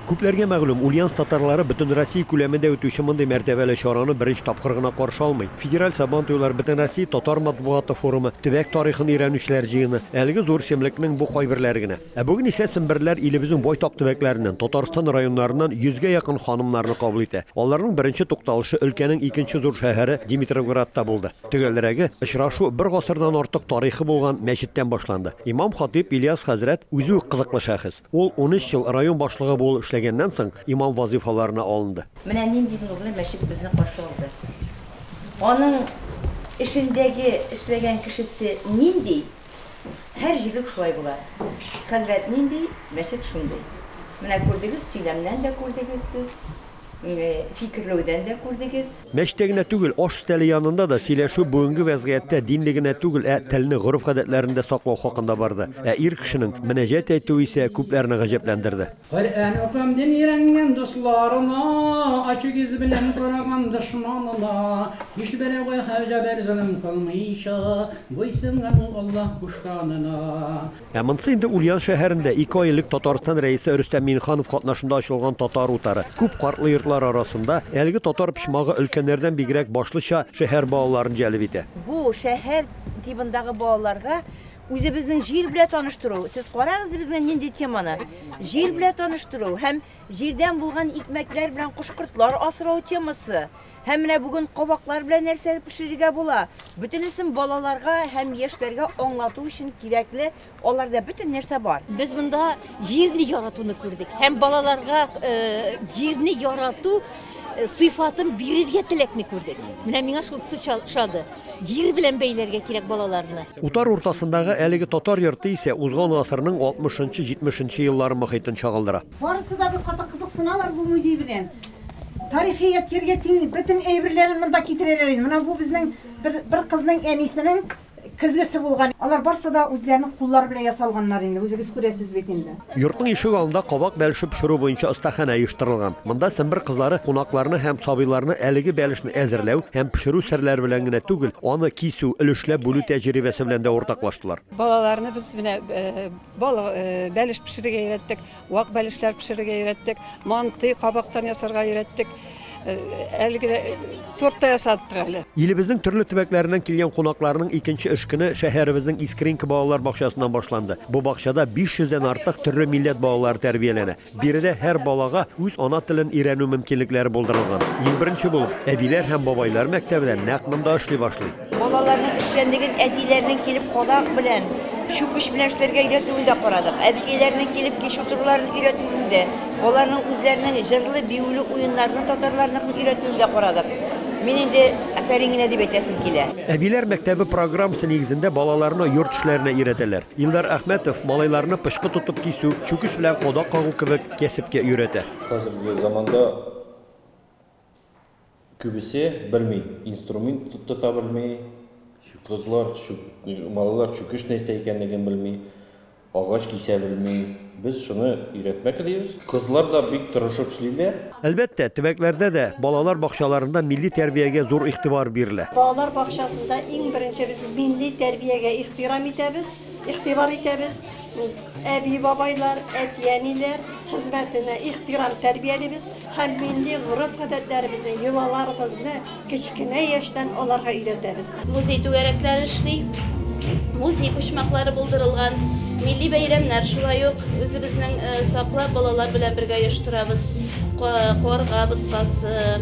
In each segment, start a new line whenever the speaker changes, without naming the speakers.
Күпләргә мәгълүм, Ульяновск татарлары бөтенроссия күләмендә үтүче мондый мәртәбәле чараны беренче тапкыр гына каршы алмый. Федераль Сабантуйлар, Бөтенроссия татар матбугаты форумы, төбәк тарихын өйрәнүчеләр җыены, әлеге зур эчемлекнең бу кайберләре генә. Ә бүген исә семберләр илебезнең байтак төбәкләреннән, Татарстан районнарыннан йөзгә якын ханымнарны кабул итә. Аларның беренче тукталышы өлкәнең икенче зур шәһәре Димитровградта булды. Төгәлрәге, очрашу бер гасырдан артык тарихы булган мәчеттән башланды. Имам-хатыйб Ильяс хәзрәт, үзе үк кызыклы шәхес. Ул унөч ел район башлыгы булып эшләгәннән соң имам вазыйфаларына алынды. Менә нинди нурлы
мәчет безне каршы алды. Аның эчендәге эшләгән кешесе нинди, һәр җирлек шулай була. Хәзрәт нинди, мәчет шундый. Менә күрдегез, сөйләмнән дә күрдегез сез, фикерләүдән дә күрдегез. Мәчеттә генә түгел,
аш өстәле янында да сөйләшү бүгенге вәзгыятьтә динне генә түгел, ә телне, гореф-гадәтләрне дә саклау хакында барды. Ә ир кешенең мөнәҗәт әйтүе исә күпләрне гаҗәпләндерде. Коръән укыйм
дим өйрәнгән дусларына, Ачык йөз белән караган дошманына. Һичберәүгә хәл-җәбер-золым кылмыйча, Буйсынган ул Аллаһ кушканына. Ә монсы инде
Ульян шәһәрендә ике ай элек Татарстан Рәисе Рөстәм Миңнеханов катнашында ачылган татар утары. Күп картлы йортлар арасында әлеге татар почмагы өлкәннәрдән бигрәк башлыча шәһәр балаларын җәлеп итә. Бу, шәһәр
тибындагы балаларга үзебезнең җир белә таныштыру. Сез карагыз безгә нинди теманы. Җир белә таныштыру һәм җирдән булган икмәкләр белән кош-кортлар асрау темасы. Һәм менә бүген кабаклар белән нәрсә пешерергә була. Бөтенесен балаларга һәм яшьләргә аңлату өчен кирәкле, аларда бөтен нәрсә бар. Без монда
җирне яратуны күрдек һәм балаларга э, җирне ярату э, сыйфатын бирергә теләкне күрдек. Менә миңа шул шады. Җир белән бәйләргә кирәк балаларны. Утар уртасындагы
әлеге татар йорты исә узган гасырның 60-70 еллары мохитен чагылдыра. Барысы да бик каты
кызыксыналар бу музей белән. Тарихи ядкярьгә тиң бөтен әйберләрен монда китерәләр инде. Менә бу безнең бер, бер кызның әнисенең көзгесе булган. Алар барысы да үзләренең куллары белән ясалганнар инде, үзегез күрәсез бит инде. Йортның ишек алдында
кабак бәлеше пешерү буенча остаханә оештырылган. Монда Сембер кызлары кунакларны һәм сабыйларны әлеге бәлешне әзерләү һәм пешерү серләре белән генә түгел, аны кисү, өлешләп бүлү тәҗрибәсе белән дә уртаклаштылар. Балаларны без менә
Балык, бәлеш пешерергә өйрәттек, вак бәлешләр пешерергә өйрәттек, манты кабактан ясарга өйрәттек. Әлеге торт та ясаттык әле. Илебезнең төрле төбәкләреннән
килгән кунакларның икенче эш көне шәһәребезнең Искренка балалар бакчасыннан башланды. Бу бакчада 500 дән артык төрле милләт балалары тәрбияләнә. Биредә һәр балага үз ана телен өйрәнү мөмкинлекләре булдырылган. Иң беренче булып, әбиләр һәм бабайлар мәктәбе дә нәкъ монда эшли башлый. Балаларның эшчәнлеген
әтиләренең килеп кадак белән, чүкеч белән эшләргә өйрәтүен дә карадык. Әбекәйләренең килеп кич утыруларын өйрәтүен дә, аларның үзләренең җырлы, биюле уеннарны татарларныкын өйрәтүен дә карадык. Мин инде афәрин генә дип әйтәсем килә. Әбиләр мәктәбе
программасы нигезендә балаларны йорт эшләренә өйрәтәләр. Илдар Әхмәтов малайларны пычкы тотып кисү, чүкеч белән кадак кагу кебек кәсепкә өйрәтә. Хәзерге заманда
күбесе белми, инструмент тота белми, кызлар, малайлар чүкеч нәрсә икәнлеген белми, агач кисә белми. Без шуны өйрәтмәк телибез. Кызлар да бик тырышып эшлиләр. Әлбәттә, төбәкләрдә
дә, балалар бакчаларында милли тәрбиягә зур игътибар бирелә. Балалар бакчасында
иң беренче без милли тәрбиягә ихтирам итәбез, игътибар итәбез. Әби-бабайлар, әти-әниләр хезмәтенә ихтирам тәрбиялибез. Һәм милли гореф-гадәтләребезне, йолаларыбызны кечкенә яшьтән аларга өйрәтәбез. Музей түгәрәкләре
эшли, музей почмаклары булдырылган. Милли бәйрәмнәр шулай ук үзебезнең саклап балалар белән бергә оештырабыз. Карга боткасы,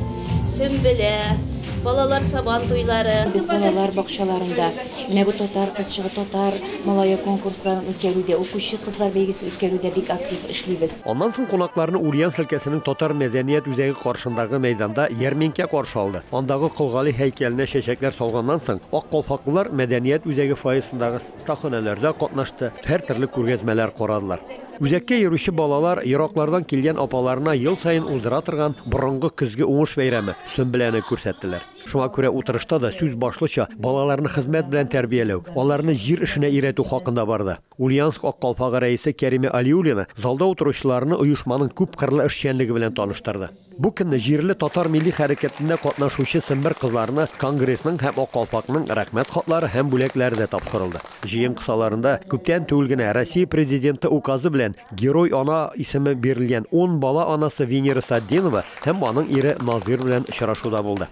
Сөмбелә, балалар Сабан туйлары. Без балалар
бакчаларында менә бу татар кызчыгы, татар малае конкурсларын үткәрүдә, укучы кызлар бәйгесе үткәрүдә бик актив эшлибез. Аннан соң кунакларны
Ульяновск өлкәсенең татар мәдәният үзәге каршындагы мәйданда ярминкә каршы алды. Андагы Кол Гали һәйкәленә чәчәкләр салганнан соң, ак калфаклылар мәдәният үзәге фойесындагы остаханәләрдә катнашты, һәртөрле күргәзмәләр карадылар. Үзәккә йөрүче балалар ераклардан килгән апаларына ел саен уздыра торган борынгы көзге уңыш бәйрәме, Сөмбеләне күрсәттеләр. Шуңа күрә утырышта да сүз башлыча балаларны хезмәт белән тәрбияләү, аларны җир эшенә өйрәтү хакында барды. Ульяновск Ак калфагы рәисе Кәримә Алиуллина залда утыручыларны оешманың күпкырлы эшчәнлеге белән таныштырды. Бу көнне җирле татар милли хәрәкәтендә катнашучы сембер кызларына Конгрессның һәм Ак калфакның Рәхмәт хатлары һәм бүләкләре дә тапшырылды. Җыен кысаларында күптән түгел генә Россия Президенты Указы белән Герой-ана исеме бирелгән ун бала анасы Венера Сатдинова һәм аның ире Назир белән очрашу да булды.